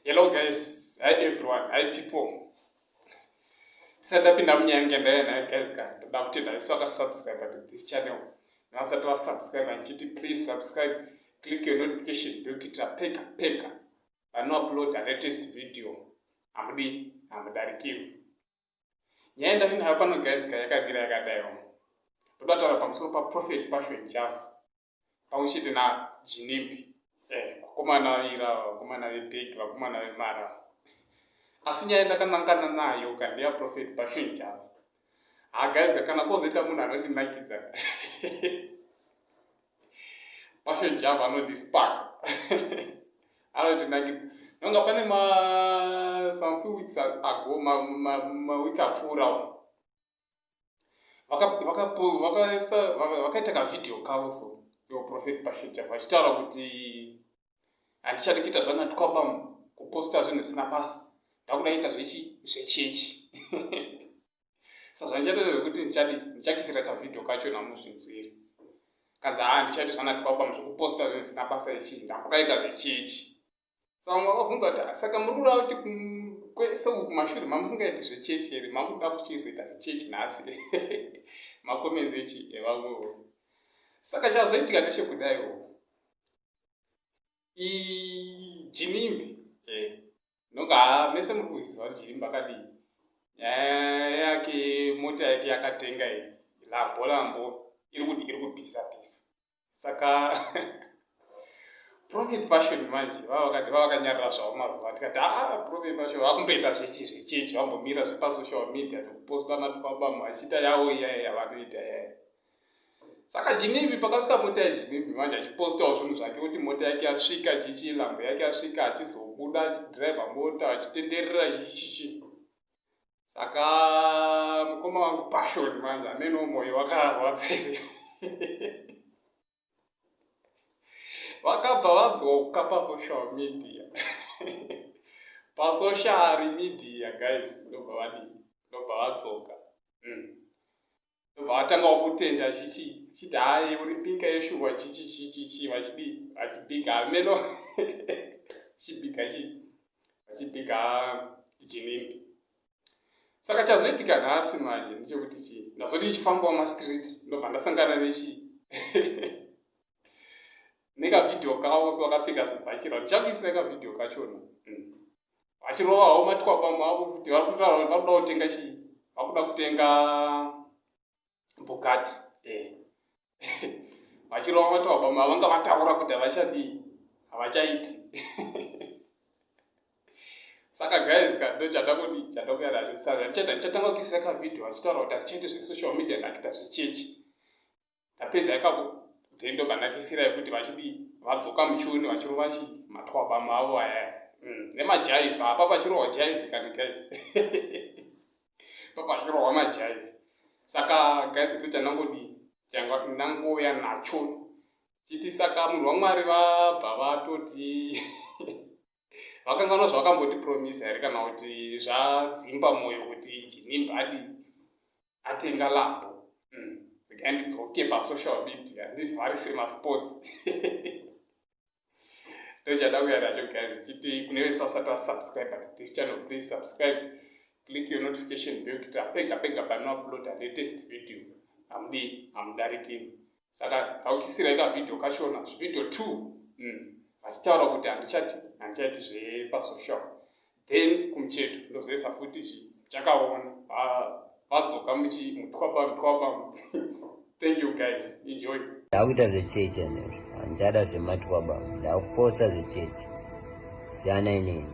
Hello guys, hi everyone, hi people. Tisati tapinda munyange ndaye naye guys ka ndoda kuti ndaiswa ka subscribe to this channel. Navasati va subscribe ndichiti please subscribe, click your notification bell kuitira peka peka pano upload the latest video. Hamudi, hamudarikirwi. nyaya yandavinayo pano guys ka yakamira yakadaiwo ndoda taura pamusoro paprofet passion njavu pamwe chete najinimbi eh, vakomana vaira vakomana vebhegi vakomana vemara asi nyaya ndakanangana nayo ka ndeyaprofet passion njavu ha guys ka kana kozoita munhu anondinakidza Passion Java anoti spark. Anoti nakidza. Nonga pane ma some few weeks ago ma ma, ma week apfuura vaka vaka vakaisa vakaita ka video kavo so yo prophet Passion Java vachitaura kuti handichadi kuita zvana twaba kuposta zvinhu zvisina basa ndakuda ita zvechi zvechechi sa zvandichatoita zvekuti ndichadi ndichakisira kavhidhio kacho namusvinzwiri kanzi haa ndichadi zvanatibaba muzvekuposta zvinhu zvisina basa ichi ndakuraita zvechechi sa vamwe vakabvunza kuti saka muri kuda kuti kwese uku kumashure mamusingaiti zvechechi here makuda kuchizoita zvechechi nhasi makomenzi echi evamwewo saka chazoitika ndechekudaiwo ijinimbi eh. noka mese muri kuziva kuti jinimbi akadii nyaya yake mota yake yakatenga iyi lambo lambo iri kuti iri kupisa pisa saka profit passion manje vavakati vavakanyarira zvavo mazuva tikati aa ah, profit passion vakumboita zvechi zvechechi vambomira zvepasocial media nekupostwa natukabama vachita yavo iyaya yavanoita yaya saka jinivi pakasvika mota yejinivi manje achipostawo zvinhu zvake kuti mota yake yasvika chichi lambo yake yasvika achizobuda achidriva mota achitenderera chichichi saka mukoma wangu passion manje amene omwoyo wakarwadzei vakabva vadzoka pasocial media pasocial media guys ndobva vadii ndobva vadzoka mm. ndobva atangawo kutenda chichi chiti hayi uri pinka yeshuwa chichi chichi chi vachidi vachibhiga hameno chibhiga chi vachibhiga jinimbi saka chazoitika nhasi manje ndichekuti chii ndazoti ndichifambawo mastreet ndobva ndasangana nechii nekavideo kawo so akapfeka zibhachira ndichakuisira kavideo kachona mm. vachirova havo matikwapamwe avo kuti vari kutaura kuti vakuda kutenga chii vakuda kutenga bhokati eh. vachirova matikwapamwe avo vanga vataura kuti havachadii havachaiti saka guys ka ndo chandakudi chandakuya nazvo saka ndichaita ndichatanga kukisira kavhidhio vachitaura kuti hatichaiti zvesocial media ndakuita zvechechi tapedza ikako then ndobva ndakisirai futi vachidi vadzoka muchione vachirova chi matwabama avo aya mm, nemajaivha apa pachirohwa jaivhi kani guys pa pachirohwa majaivhi saka guys kuti chanangodi changa ndangouya nacho chiti saka munhu wamwari vabva vatoti vakanganwa zvavakamboti promise here kana kuti zvadzimba mwoyo kuti jinimba adi atenga lambo hmm, regai ndidzoke pasocial media ndivharise masports ndochada kuya nacho guys chiti kune vese vasati vasubscribe this channel please subscribe click your notification bell kuita pega pega panouploada latest video hamudi hamudarikini saka aukisirai kavhidhio kachona zvivhidhio two mm. vachitaura kuti handichati handichaiti zvepasocial then kumucheto ndozoisa futi chi chakaona vadzoka muchimutwaba mutwaba thank you guys enjoy ndakuita zvechechi anezvo handichada zvematwaba ndakuposa zvechechi siyana inini